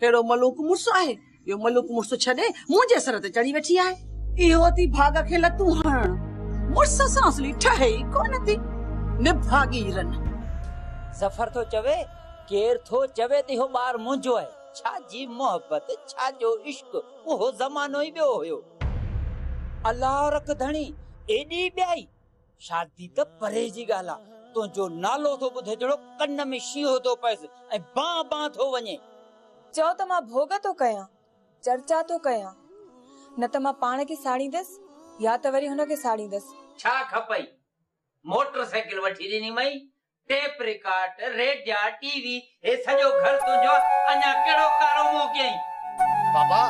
ڪهڙو ملوڪ مڙس آهي، جو ملوڪ مڙس ڇڏي، منهنجي سر تي چڙهي ويٺي آهي. اهو ٿي ڀاڳ کي لتون هڻڻ، مڙس سان اصلي ٺهي ئي ڪونه ٿي. نڀاڳي رن. ظفر ٿو چوي، ڪير ٿو چوي ته اهو ٻار منهنجو آهي. ڇا جي محبت، ڇا جو عشق، اهو زمانو ئي ٻيو هيو. الله رک ڌڻي، ايڏي ٻيائي! شادي ته پري جي ڳالهه آ، تنهنجو نالو ٿو ٻڌي جهڙو ڪن ۾ شينهن ٿو پئس ۽ بان بان ٿو وڃين. چئو ته مان ڀوڳ ٿو ڪيان، چرچا ٿو ڪيان، نه ته مان پاڻ کي ساڙيندس يا ته وري هن کي ساڙيندس. ڇا کپئي؟ موٽر سائيڪل وٺي ڏنيمئين، ٽيپ رڪارڊ، ريڊيا، ٽي وي، هي سڄو گهر تنهنجو آ، اڃا ڪهڙو ڪارو منهن ڪيائين؟ بابا،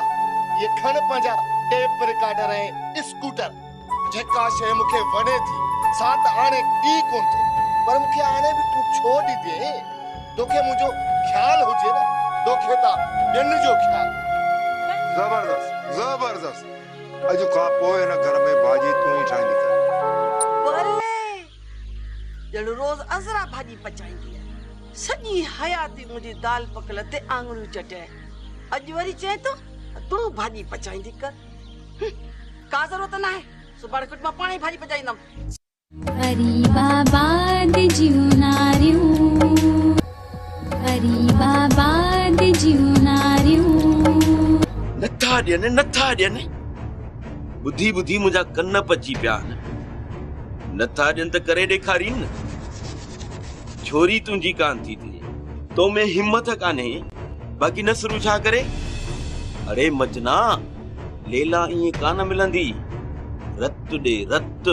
هي کڻ پنهنجا ٽيپ رڪارڊر ۽ اسڪوٽر، جيڪا شيء مون کي وڻي ٿي، سا ته آڻي ڏئي ڪونه ٿو، پر مون کي آڻي به تون ڇو ڏيندينء؟ توکي منهنجو خيال هجي نه، توکي ته ٻين جو خيال هوندو. زبردست! زبردست! اڄ کان پوء هن گهر ۾ ڀاڄي تون ئي ٺاهيندين. بلي! ڄڻ روز عذرا ڀاڄي پچائينديء. سڄي حياتي منهنجي دال پڪل تي آڱريون چٽي، اڄ وري چئين ته تون ڀاڄي پچائيندي ڪر. هه، ڪا ضرورت ناهي، سڀاڻي کٽ مان پاڻهي پاڄي پچائيندم. غريب آباد جون ناريون. غريب آباد جون ناريون. نٿا ڏين نٿا ڏين ٻڌي ٻڌي منهنجا ڪن پچي پيا آهن نٿا ڏين ته ڪري ڏيکارين نه ڇوري تنهنجي ڪان ٿي ٿئي تو ۾ همٿ ڪانهي باقي نسرون ڇا ڪري اڙي مچنا ليلا ائين ڪانه ملندي رت ڏي رت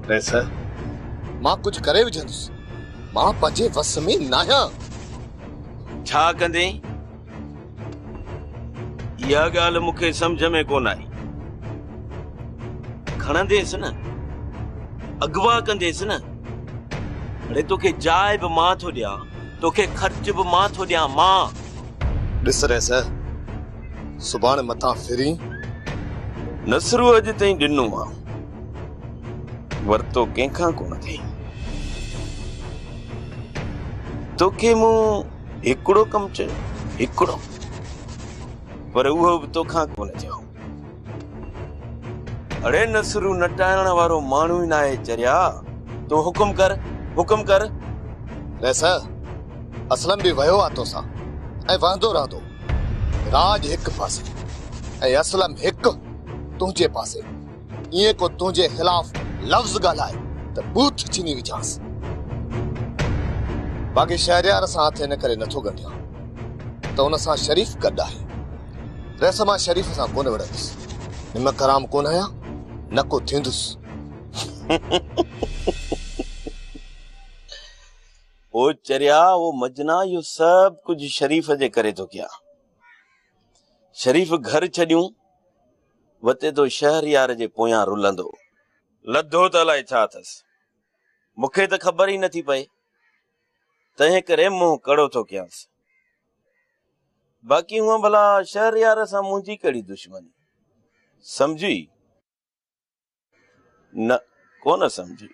قيصر مان ڪجهه ڪري وجهندس. مان پنهنجي وس ۾ ناهيان. ڇا ڪندين؟ اها ڳالهه مون کي سمجهه ۾ ڪونه آئي. کڻنديس نه، اغوا ڪنديس نه. اڙي توکي جاء به مان ٿو ڏيان، توکي خرچ به مان ٿو ڏيان، مان! ڏس ريس، سڀاڻي متان ڦرين. نصرو اڄ تائين ڏنو آ. ورتو ڪنهن کان ڪونه اٿئي. توکي مون هڪڙو ڪم چيو، هڪڙو، پر اهو به توکان ڪونه چيو. اڙي نصرو نٽائڻ وارو ماڻهو ئي ناهي چريا، تون حڪم ڪر، حڪم ڪر. ويساهه، اسلم به ويو آ توسان ۽ وهندو رهندو. راڄ هڪ پاسي ۽ اسلم هڪ تنهنجي پاسي. ايئن ڪو تنهنجي خلاف لفظ ڳالهائي ته بوٿ ڇني وجهانس. باقي شهريار سان هٿ ان ڪري نٿو ڳنڍيان ته ان سان شريف گڏ آهي. رئيس مان شريف سان ڪونه وڙهندس. نمڪ حرام ڪونه آهيان نه ڪو ٿيندس. او چريا او مجنا اهو سڀ ڪجهه شريف جي ڪري ٿو ڪيان. شريف گهر ڇڏيون. وتي تو شهريار جي پويان رلندو. لڌو ته الائي ڇا اٿس. مون کي ته خبر ئي نٿي پئي. تنهن ڪري منهن ڪڙو ٿو ڪيانس. باقي هونء ڀلا شهريار سان منهنجي ڪهڙي دشمني. سمجهي؟ نه ڪونه سمجهي،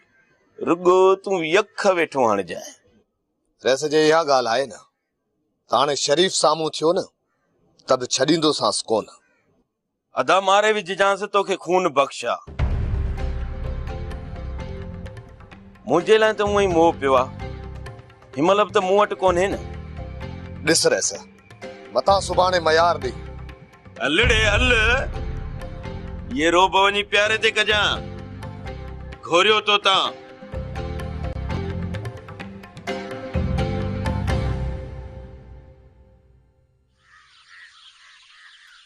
رڳو تون يڪ ويٺو هڻجانء. رئيس جي اها ڳالهه آهي نه، ته هاڻي شريف سامهون ٿيو نه، ته به ڇڏيندوسانس ڪونه. ادا ماري وجهجانس توکي خون بخش آ. منهنجي لاء ته هونئن ئي موهه پيو آ، هن مهل به ته مون وٽ ڪونهي نه. ڏس رئيس، متان سڀاڻي ميار ڏي. هلڙي هل، يي روب وڃي پياري تي ڪجان، گهوريو توتان.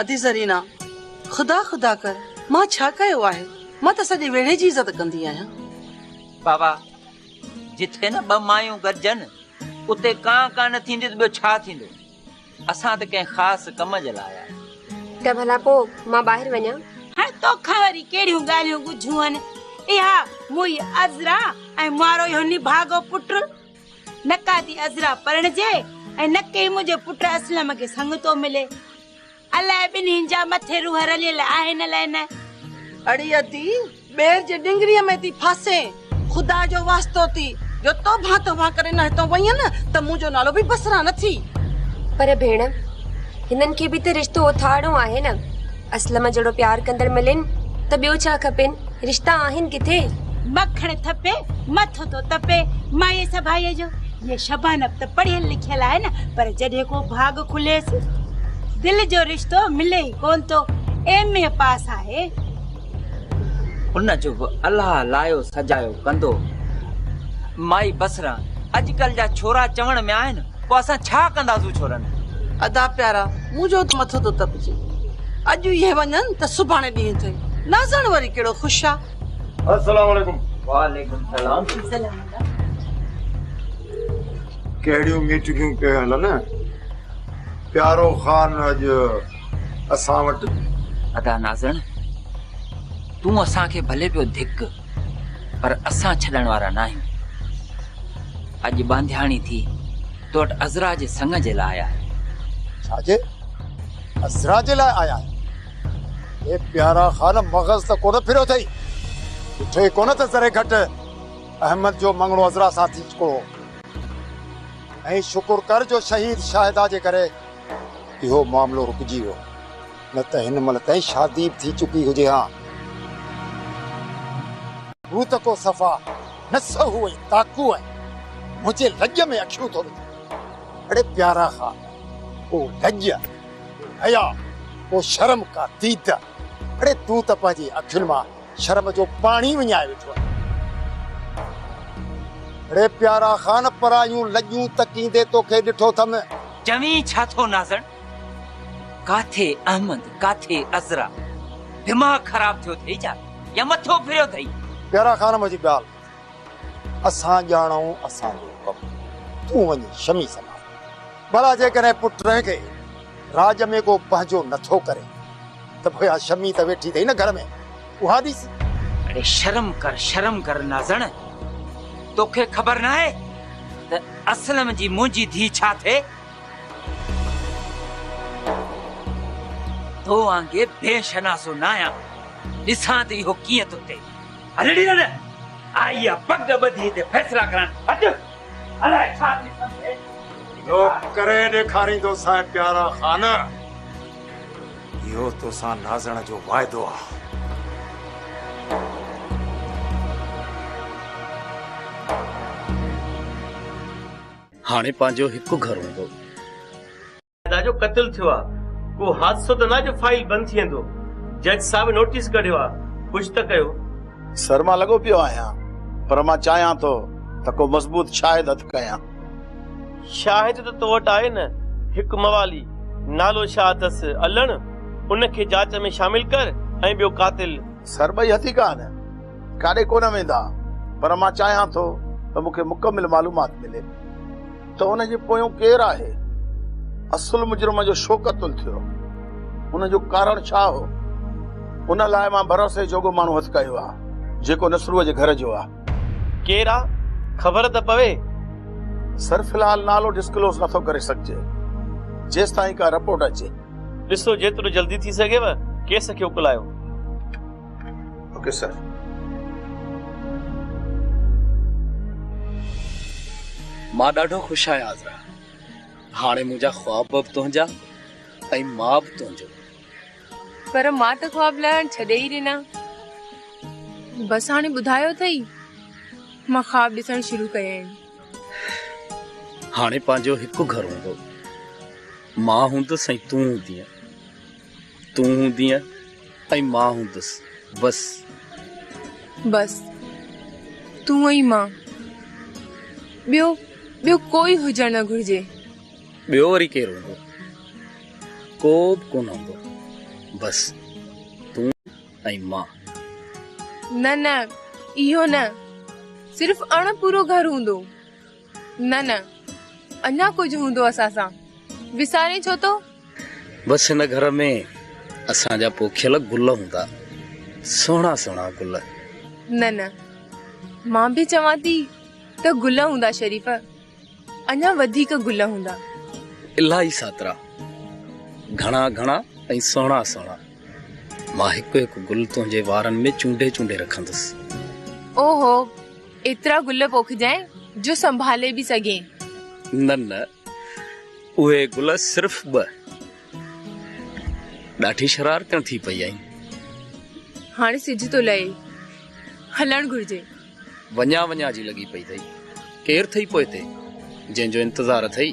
ادي زرينا! خدا خدا ڪر، مان ڇا ڪيو آهي؟ مان ته سڄي ويڙهي جي عزت ڪندي آهيان. بابا! جتي نه ٻه مايون گڏجن، اتي ڪان ڪان نه ٿيندي ته ٻيو ڇا ٿيندو؟ اسان ته ڪنهن خاص ڪم جي لاء آيا آهيون. ته ڀلا پوء مان ٻاهر وڃان؟ هاڻ توکان وري ڪهڙيون ڳالهيون ڳجهون هن؟ اها منهنجي عذرا ۽ مارو اهو نڀاڳو پٽ. نه ڪا ڌي عذرا پرڻجي ۽ نه ڪنهن منهنجي پٽ اسلم کي سڱتو ملي. الائي ٻنهين جا مٿي روح رليل آهن الائي نه. اڙي ادي، ٻير جي ڏنگريء ۾ ٿي ڦاسين. خدا جو واسطو ٿي، جو توبهان توبهان ڪري نه هتان وئين نه ته منهنجو نالو به بصرا نه ٿي. پر ڀيڻ، هنن کي به ته رشتو اٿارڻو آهي نه. اسلم جهڙو پيار ڪندڙ ملين ته ٻيو ڇا کپين، رشتا آهن ڪٿي. مکڻ ٿپي مٿو ٿو تپي مائي سڀائي جو. هيء شبانه به ته پڙهيل لکيل آهي نه پر جڏهن ڪو ڀاڳ کليس دل جو رشتو ملي ئي ڪونه ٿو. ايم اي پاس آهي. ان جو به الله لايو سجايو ڪندو. مائي بصره اڄڪلهه جا ڇورا چوڻ ۾ آهن. پوء اسان ڇا ڪنداسون ڇورن. ادا پيارا مون جو ته مٿو ٿو تپجي اڄ اهي وڃن ته سڀاڻي ڏينهن اٿئي نازڻ وري ڪهڙو خوش آ. السلام عليڪم. وعليڪم سلام. ڪهڙيون ميٽنگيون پيون هلن پيارو خان اڄ اسان وٽ. ادا نازڻ تون اسان کي ڀلي پيو ڌڪ. پر اسان ڇڏڻ وارا ناهيون. اڄ ٻانڌياڻي ٿي تو وٽ عذرا جي سڱ جي لاء آيا آهيون. ڇا جي عذرا جي لاء آيا آهيون؟ اي پيارا خان مغز ته ڪونه ڦريو اٿئي؟ ڏٺئي ڪونه ته ذري گهٽ احمد جو مڱڻو عذرا سان ٿي چڪو هو. ۽ شڪر ڪر جو شهيد شاهده جي ڪري اهو معاملو رڪجي ويو. نه ته هن مهل تائين شادي به ٿي چڪي هجي ها. هو ته ڪو صفا نسهو ۽ تاڪو آهي، منهنجي لڄ ۾ اکيون ٿو وجهي. اڙي پيارا خان، ڪو لڄ، ڪو حياء، ڪو شرم، ڪا ديده، اڙي تون ته پنهنجي اکين مان شرم جو پاڻي وڃائي ويٺو آهين. اڙي پيارا خان، پرايون لڄون تڪيندي توکي ڏٺو اٿم. چوين ڇا ٿو نازڻ؟ ڪاٿي احمد ڪاٿي عذرا دماغ خراب ٿيو اٿئي ڇا يا مٿو ڦريو اٿئي. پيارا خانم جي ڳالهه اسان ڄاڻون اسان جو ڪم تون وڃ شمي سنڀال ڀلا جيڪڏهن پٽ کي راڄ ۾ ڪو پنهنجو نٿو ڪري ته پوء اها شمي ته ويٺي اٿئي نه گهر ۾ اها ڏسي. اڙي شرم ڪر شرم ڪر نازڻ توکي خبر ناهي ته اسلم جي منهنجي ڌي ڇا ٿئي. تو وانگي بي شناسو نه آهيان، ڏسان ته اهو ڪيئن ٿو ٿئي. هل ڙي هل، آئي آ پڳ ٻڌي هتي فيصلا ڪرڻ، هٽ، الاء ڇا ٿي سگهي. اهو ڪري ڏيکاريندوسانء پيارا خان، اهو توسان نازڻ جو واعدو آ. هاڻي پنهنجو هڪ گهر هوندو. ادا جو قتل ٿيو آ ڪو حادثو ته نه جو فائيل بند ٿي ويندو جج صاحب نوٽيس ڪڍيو آ ڪجھ ته ڪيو. سر مان لڳو پيو آهيان پر مان چاهيان ٿو ته ڪو مضبوط شاهد هٿ ڪيان. شاهد ته تو وٽ آهي نه هڪ موالي نالو ڇا اٿس الڻ ان کي جاچ ۾ شامل ڪر ۽ ٻيو قاتل. سر ٻئي هٿي ڪا نه. ڪاڏي ڪونه ويندا پر مان چاهيان ٿو ته مون کي مڪمل معلومات ملي ته ان جي پويون ڪير آهي؟ اصل مجرم جو شو قتل ٿيو؟ ان جو ڪارڻ ڇا هو؟ ان لاء مان ڀروسي جوڳو ماڻهو هٿ ڪيو آهي جيڪو نصروء جي گهر جو آهي. ڪير آ؟ خبر ته پوي. سر في الحال نالو ڊسڪلوز نٿو ڪري سگهجي جيستائين ڪا رپورٽ اچي. ڏسو جيترو جلدي ٿي سگهيو ڪيس کي اڪلايو. Okay sir. مان ڏاڍو خوش آهيان عذرا هاڻي منهنجا خواب به تنهنجا ۽ مان به تنهنجو پر مان ته خواب لهڻ ڇڏي ئي ڏنا بس هاڻي ٻڌايو اٿئي مان خواب ڏسڻ شروع ڪيا آهن هاڻي پنهنجو هڪ گهر هوندو مان هوندس ۽ تون هوندينء تون هوندينء ۽ مان هوندس بس. بس تون ۽ مان ٻيو ٻيو ڪوئي هجڻ نه گهرجي. ٻيو وري ڪير هوندو ڪو به ڪونه هوندو بس تون ۽ مان. نه نه اهو نه صرف اڻ پورو گهر هوندو. نه نه اڃا ڪجهه هوندو اسان سان وسارين ڇو ٿو. بس هن گهر ۾ اسان جا پوکيل گل هوندا سهڻا سهڻا گل. نه نه مان به چوان ٿي ته گل هوندا شريف اڃا وڌيڪ گل هوندا. الاهي ساترا گهڻا گهڻا ۽ سهڻا سهڻا مان هڪ هڪ گل تنهنجي وارن ۾ چونڊي چونڊي رکندس. اوهو. ايترا گل پوکجين، جو سنڀالي به سگهين. نه نه، اهي گل صرف ٻه. ڏاڍي شرارتيون ٿي پئي آهين. هاڻي سج ٿو لهي، هلڻ گهرجي. وڃان وڃان جي لڳي پئي اٿئي. ڪير اٿئي پوئتي، جنهن جو انتظار اٿئي؟